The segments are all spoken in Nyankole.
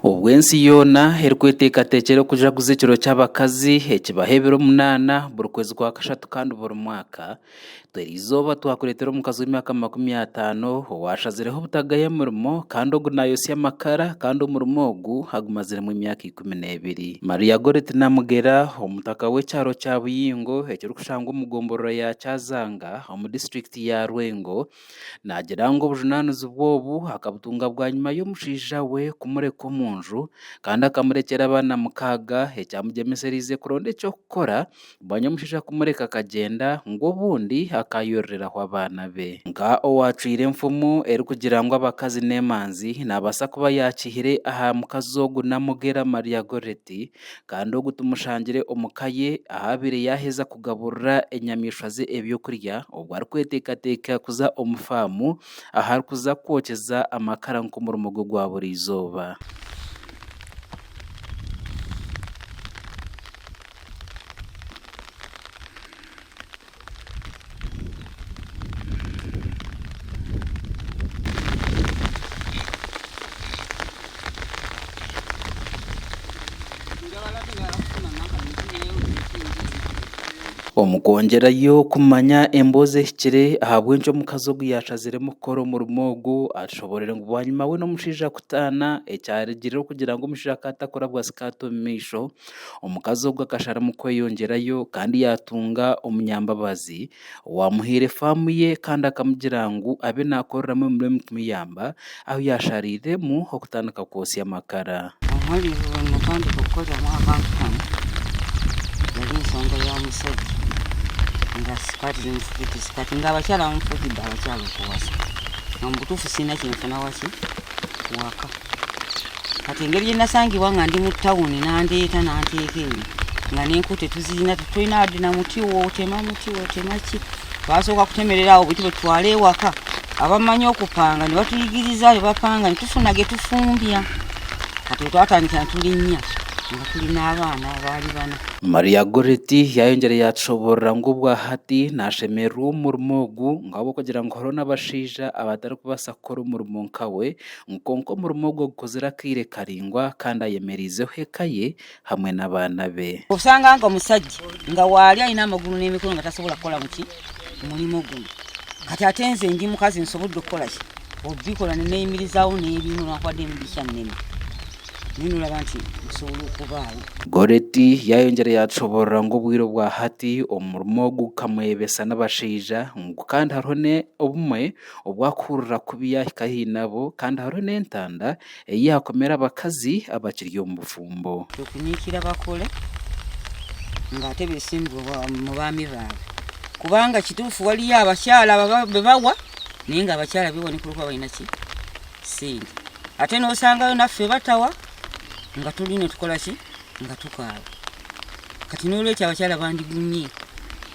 Obu ensi yoona erikweteekateekyera okujaguza ekiro ky'abakazi ekibaho ebiro munaana buri kwezi kwa kashatu kandi buri mwaka, itwe eri izooba twakureetera omukazi w'emyaka makumi ataano owaashazireho obutagaya murimo kandi ogu naayotsya amakara kandi omurimo ogu agumaziremu emyaka ikumi n'ebiri. Maria Goreti Namugera, omutaka w'ekyaro kya Buyingo ekirikushangwa omu gomborora ya Kyazanga omu disiturikiti ya Lwengo Naagira ngu obujunaanizibwa obu akabutunga bwanyima y'omushaija we kumureka omu nju kandi akamurekyera abaana mukaaga ekyamugyemesereize kuronda eky'okukora bwanyima omushaija kumureka akagyenda ngu obundi akaayororeraho abaana be. Nka owaacwire enfumu erikugira ngu abakazi n'emanzi, naabaasa kuba yaakihire aha mukazi ogu Namugera Maria Goretti, kandi ogu tumushangire omu ka ye ahaabaire yaaheza kugaburira enyamaishwa ze eby'okurya obwo arikweteekateeka kuza omu faamu ahu arikuza kwokyeza amakara nk'omurimo gwe gwa buri izooba. Omu kwongyerayo kumanya emboozi ehikire ahabw'enki omukazi ogu yaashaziremu kukora omurimo ogu, atushoboorire ngu bwanyima we n'omushaija kutaana, ekyarugireho kugira ngu omushaija akaba atakurabwa sikaati omu maisho, Omukazi ogwo akasharamu kweyongyerayo kandi yaatunga omunyambabazi owaamuhaire faamu ye kandi akamugira ngu abe naakoreramu emirimo kumuyamba ahu yaashariiremu okutandika kwotsya amakara. Omuri ebyo byoona natandika kukoreramu aha kampuni yari ensonga ya mushogi ngu sikaati zimwe zitwite sikaati ngu abakyara bamwe futi baaba bakyari kuwasa. Omu butuufu siine eki nfuna wakye kuwaka. Hati engeri ei naasangirwe nga ndi mu tawuni nandeeta nanteeka enyima nga n'enku tituziine titwine aha dina muti otema muti otema ki twasooka kutemerera aho beitu obututwara ewaka abamanyi okupanga nibatuyigiriza nibapanga nitufuna getufumbya hati obwo twatandikira nituri inya nga turi n'abaana baari bana. Maria Goretti yaayongyire yaatushoboorora ngu obwahati naashemererwa omu murimo ogu ng'ahabw'okugira ngu hariho n'abashaija abatarikubaasa kukora omurimo nkawe ngu kwonka omurimo ogwo gukozire akaire karaingwa kandi ayemereizeho eka ye hamwe n'abaana be. Oshanga nka omusajja nga waali aine amaguru n'emikono nga tasobora kukora buki murimo gunu. Kati ate nze ndi mukazi nsobodde okukora ki obikora nineyimirizaaho n'ebinura ahabw'okuba ndi omugisha munene nyowe noraba nti nsobora okubaaho. Goreti yayongyera yatushoborora ngu obwire obwa hati omurimo ogu gukamweyebesa n'abashaija ngu kandi hariho n'obumwe Obu arikuhurira kubi yaahika haihi nabo kandi hariho n'entanda ei yaakomera abakazi abakiri omu bufumbo. Tokunyiikira abakore ngu hati ebisimbirwe omu baami baawe. Kubanga kituufu waliyo abakyara ababi bawa, naye ngu abakyara baiwe nikwo orikuba waine ki? Sente. Ate nosangayo naffe batawa nga turiyo nitukora ki? Nga tukaawa. Kati n'olwekyo abakyara bandigumye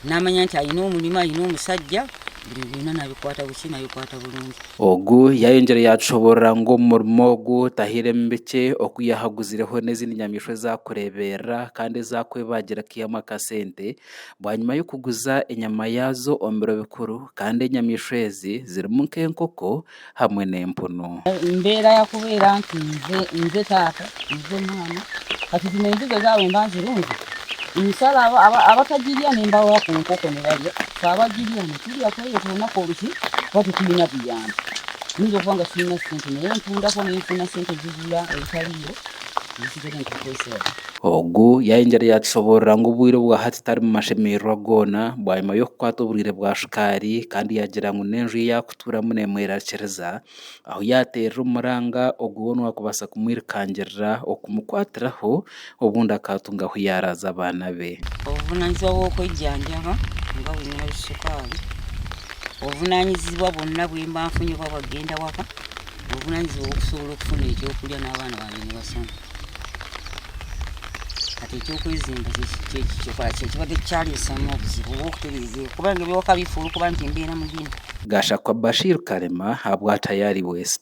naamanya nti aine omurimo, aine omushaija, ebintu byona naabikwata buki? Naabikwata burungi. Ogu yaayongyire yaatushoboorora ngu omu murimo ogu tahairemu bikye oku yaahaguzireho n'ezindi nyamaishwa ezaakureeberera kandi ezaakwebagira kaihamu akasente bwanyima y'okuguza enyama yaazo omu biro bikuru kandi enyamaishwa ezi zirimu nk'enkoko, hamwe n'empunu. Embeera yaakuba era nti nze taata, nze mwana, hati ziine enziga zaayo mbanze rungi? Emisara abatagirya nimbaha ku nkoko nibarya, twabagirya niturya tweye twonaka oruhi kuba titwine buyambi. Niingira okuba nga tiine sente naye ntunda ku ninfuna sente zigura ebitariiro ebisigare nkakozesa. Ogu yayengire yaatushoboorora ngu obwire bwa hati tari mu mashemererwa goona bwanyima y'okukwata oburwaire bwa shukaari kandi yaagira ngu n'enju ei Tuuramu neemwerakiriza, ahu yaateerera omuranga ogwo woona owaakubaasa kumwirukangirira okumukwatiraho, obundi akaatunga ahu yaaraaza abaana be. Obuvunaanyizibwa bw'okwejjanjaba oba bwine hali sukaali, obuvunaanyizibwa bwona obu mba nfunire ku bagenda waka, obuvunaanyizibwa bw'okusobola okufuna eky'okurya n'abaana bangye nibashoma. Hati ekyokwezimba kikaba tikikyareetsamu obuzibu bw'okutereeza ebi ahakuba ebi okabifa orikuba nikimbera mugyenyi. Gashakwa Bashir Karema habwa Tayari West.